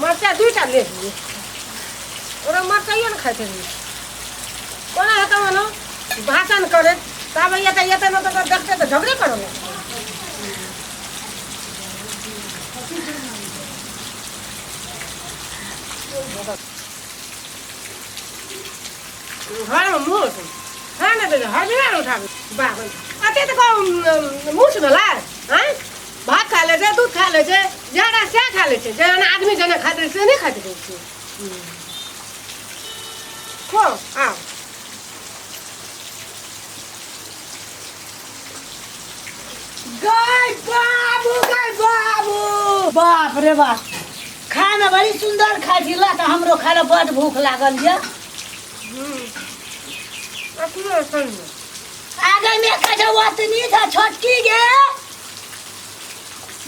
मरचाइ दुइटा ले दियै ओकरा मरचाइए ने खाइत रहियै कोना हेतौ ओना भाषण करे तब एतऽ एतऽ ने तऽ देखते तऽ झगड़े करो ने घरमे मुँह है ने हजरा उठाबी बाबा अते तऽ मुँह भेलै आँय भात खा लै छै दूध खा लै छै जहन सएह खा लै छै जहन आदमी जेना खाइत रहै से नहि खाइत रहै छै खो आ गै बाबू गै बाबू बाप रे बाप खाना बड़ी सुंदर खाइ छी ला तऽ हमरो खाय लए बड भूख लागल यऽ अपनो सुन आगे में कहे ओतनी था छोटकी गे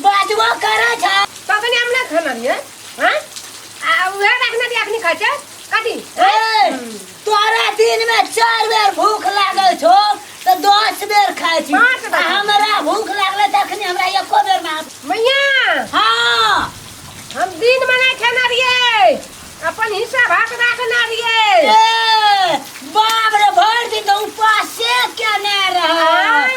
बाजबो करै छ कखनी हम ना खाना दिए हां आ उहे रखना दिए अखनी खाइ छै कथी ए, तोरा दिन में चार बेर भूख लागल छो तो दस बेर खाए छी पाँच बेर। आ हमरा भूख लागले त अखनी हमरा एको बेर ना मैया हाँ हम दिन में नहीं खाना दिए अपन हिस्सा भाग रखना दिए ए, बाप रे भर दिन तो उपासे केने रह आँय?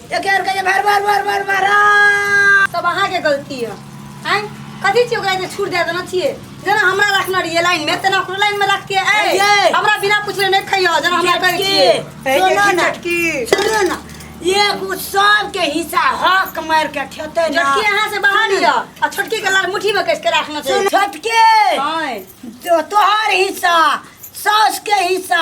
एक और कहिए भर भर भर भर भर आ। सब अहाँ के गलती है हैं कथी छियै ओकरा जे छूट दे देना छियै जेना हमरा रखना रहिए लाइन में तेना ओकरो लाइन में रखके ए अइयै। हमरा बिना पूछले नहीं खइयो जेना हमरा कहै छियै चटकी, सुनो ना। चटकी। सुनो ना एगो सबके हिस्सा हक मार के ठेते ना छोटकी अहाँ से बाहर यऽ आ छोटकी के लाल मुट्ठी में कस के रखना सुन, छै छोटके हैं तो तोहर हिस्सा सास के हिस्सा